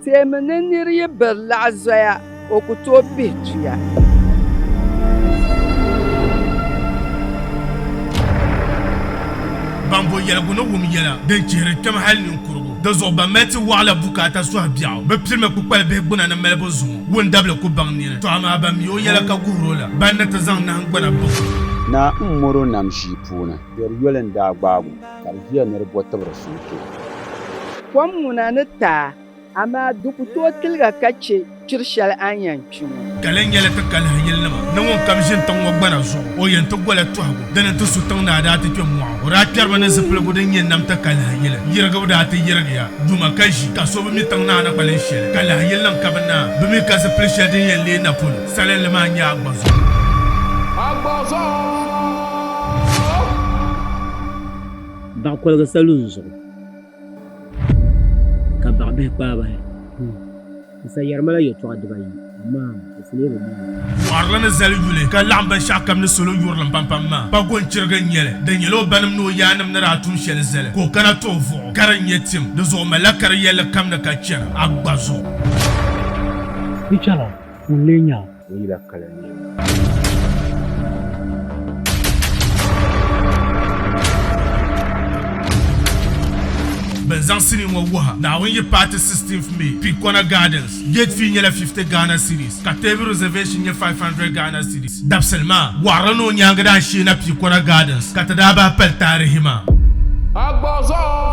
Teemi ni nir yi biri laɣ zoya, o ku tooi pihi tuya. Ban bo yɛligu ni wum yɛla din chihiri kpɛm hal ninkurigu. Di zuɣu ban mali ti wɔɣila bukaata sɔhi biɛɣu, bɛ pirimi kpukpali bihi gbuna ni malibu zuŋɔ. Wundabili ku baŋ niri, tɔ amaa ban mi o yɛla ka guhir o la, ban ni ti zaŋ nahingbana baŋ o. Naa m-mɔr o nam ʒii puuni. Biɛri yoli n-daa gbaag o. Ka di ʒiya ni di bo tibiri suhukpee. Kom ŋuna ni taai, amaa di ku tooi tiliga ka chɛ kpiri shɛli a ni yɛn kpi ŋɔ. Ka lɛn nyɛla ti kalihi yilinima ni ŋun kam ʒini tiŋ ŋɔ gbana zuɣu, o yɛn ti gola tɔhigu. Di ni ti su tiŋ ni a daa ti kpe mɔɣu. O daa kpɛriba ni zipiligu din nyɛ nam ti kalihi yili. Yirigibu daa ti yirigiya duma ka ʒi, ka so bi mi tiŋ ni a ni kpalim shɛli. Kalihi yilinim ka bi naai bi mi ka zipili shɛli din yɛn leei na polo. Salinli maa n-nyɛ Agbazuɣu. Agbazuɣu! baɣa koligi salun zuɣu ka baɣa bihi kpaai bahi n sa yɛri mala yɛltɔɣa dibayi amaa di fulee bi maani Mɔɣirili ni zali yuli ka laɣim binshɛɣu kam ni salo yurilim pampam maa, pa gɔnchiriga n-nyɛ li. Di nyɛla o banim ni o yaannim ni daa tum shɛli zali ka o kana ti o vuɣu ka di nyɛ tim. Di zuɣu o malila ka di yɛlli kam ni ka chɛna Agba zuɣu. Di chɛla ŋun lee nya ni yi lahi kali n nɛma. Bɛn zaŋ sinii ŋɔ wuhi Naawuni yi paati 16th May, Pikona Gardens. Gate fee nyɛla 50 Ghana cedis ka table reservation nyɛ 500 Ghana cedis. Dabisili maa wɔɣiri ni o nyaaŋa daa shee na Pikona Gardens ka ti daa bahi pali taarihi maa. Agbɔzɔɔ!